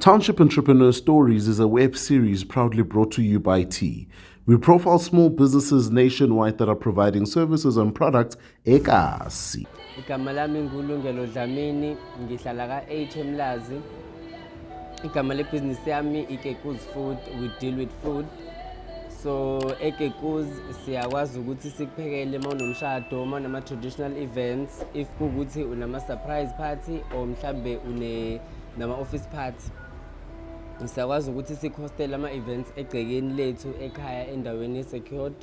Township Entrepreneur Stories is a web series proudly brought to you by T. We profile small businesses nationwide that are providing services and products ekasi. Igama lami ngulungelo Dlamini, ngihlala ka-8 eMlazi. Igama lebhizinisi yami ikekuz food, we deal with food. So ekekuz siyakwazi ukuthi sikuphekele uma unomshado, uma unama-traditional events, if kuwukuthi unama-surprise party or mhlambe une nama-office party siyakwazi ukuthi sikhostele ama-events egcekeni lethu ekhaya endaweni ye-secured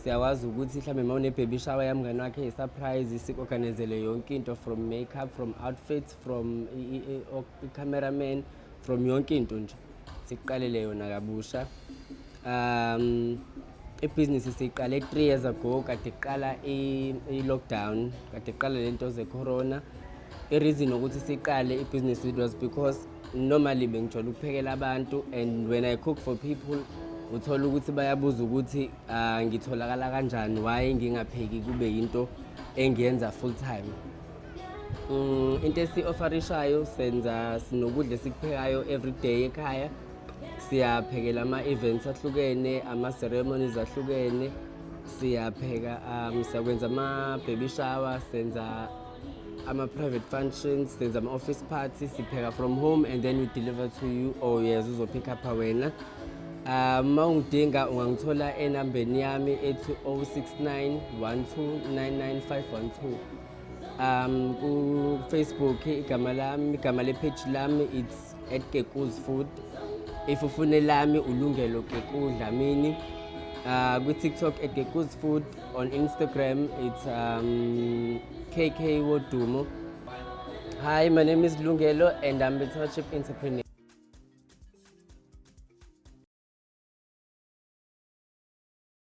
siyakwazi ukuthi mhlawumbe uma unebaby shower yamngane wakhe yi-surprise si-organizele yonke into from makeup from outfits from i-cameraman from yonke into nje sikuqalele yona kabusha Um ibhizinisi siyiqale 3 years ago kade iqala i-lockdown kade iqala le nto ze-corona i-reason ukuthi siqale ibhizinisi it was because normally bengijwayele ukuphekela abantu and when i cook for people uthola ukuthi bayabuza ukuthi uh, ngitholakala kanjani why ngingapheki kube yinto engiyenza full time um into esi-ofarishayo senza sinokudla esikuphekayo every day ekhaya siyaphekela ama-events ahlukene ama-ceremonies ahlukene siyapheka um siyakwenza ama-baby shower senza ama-private functions senza ama-office party sipheka from home and then we deliver to you or yes uzopick upha wena um ma ungidinga ungangithola enambeni yami ethi 069 1299512 um kufacebook igama lami igama lepheji lami it's at Kekuz Food. Ifufune lami ulungelo Kekuz Dlamini. Uh, kwi-tiktok at Kekuz Food. On Instagram it's um, KK Wodumo. Hi, my name is Lungelo and I'm a township entrepreneur.